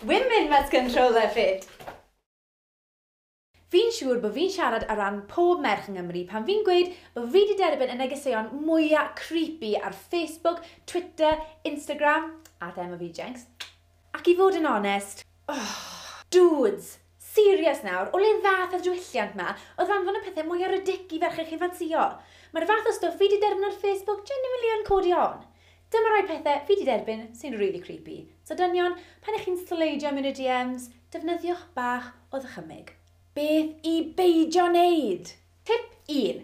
Women must control their fate! Fi'n siŵr bod fi'n siarad ar ran pob merch yng Nghymru pan fi'n gweud bod fi 'di derbyn y negeseuon mwya creepy ar Facebook, Twitter, Instagram, a thema fi Jinx, ac i fod yn onest, oh, dudes! Serious nawr, o le ddath y diwylliant 'ma o ddanfon y pethe mwya ridic i ferched chi'n ffansïo? Mae'r fath o stwff fi 'di derbyn ar Facebook genuinely yn codi ofn. Dyma rai pethe fi 'di derbyn sy'n rili creepy, so dynion, pan 'ych chi'n sleidio i mewn i DMs, defnyddiwch bach o ddychymyg. Beth i beidio neud! Tip un,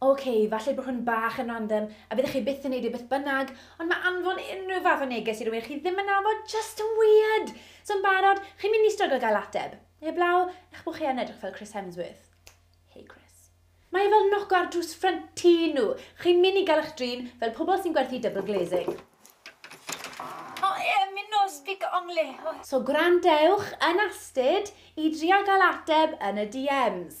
Ok, falle bod hwn bach yn random, a byddech chi byth yn neud e beth bynnag, ond mae anfon unrhyw fath o neges i rywun chi ddim yn nabod jyst yn weird! So yn barod, chi'n mynd i stryglo gael ateb. Heblaw, eich bod chi yn edrych fel Chris Hemsworth. Hey Chris. Mae e fel noco ar drws ffrynt tŷ nhw. Chi'n mynd i gael eich drin fel pobl sy'n gwerthu double glazing. O ie, mi nos fi gy ongley. So gwrandewch yn astud i drio gael ateb yn y DMs.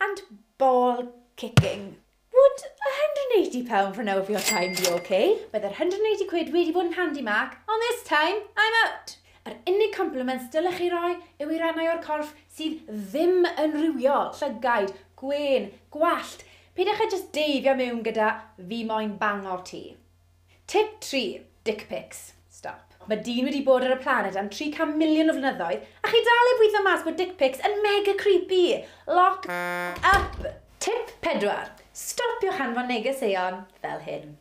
And ball kicking. Would £180 for now of your time be ok? Byddai'r £180 wedi bod yn handi Mark, ond this time I'm out! Yr unig compliments dylech chi roi yw i rannau o'r corff sydd ddim yn rhywio, llygaid, gwên, gwallt, peidiwch â jyst deifio mewn gyda 'fi moyn bangor ti'. Tip tri, Dick pics. Stop. Mae dyn wedi bod ar y planed am 300 miliwn o flynyddoedd a chi dal heb weithio mas bod dick pics yn mega creepy! Lock up! Tip pedwar, Stopiwch hanfon negeseuon fel hyn.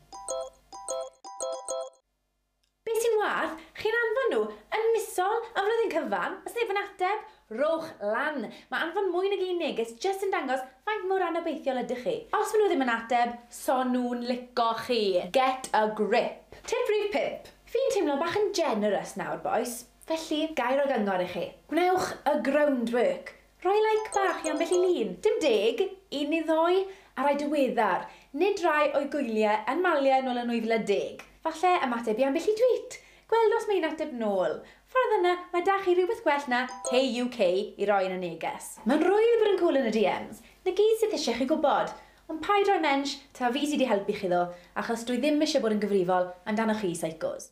Be sy'n wath, chi'n anfon nhw yn misol am flwyddyn cyfan a sneb yn ateb, Rhowch lan! Mae anfon mwy nag un neges jyst yn dangos faint mor anobeithiol ydych chi. Os maen nhw ddim yn ateb, so nhw'n lico chi! Get a grip! Tip rhif pump. Fi'n teimlo bach yn generous nawr, bois. Felly, ga i roi gyngor i chi? Gwnewch y groundwork! Rhoi like bach i ambell i lun! Dim deg, un neu ddou, a rai diweddar, nid rai o'i gwyliau yn maliau nôl yn 2010. Falle ymateb i ambell i tweet! Gweld os mae un ateb nôl. Ffordd yna, mae da chi rywbeth gwell na Hey UK i roi yn y neges. Mae'n rwydd bod yn cŵl yn y DMs. Na gyd sydd isie chi gwybod. Ond paid rhoi mensh, taw fi sy di helpu chi ddo, achos dwi ddim isie bod yn gyfrifol amdanoch chi seicos.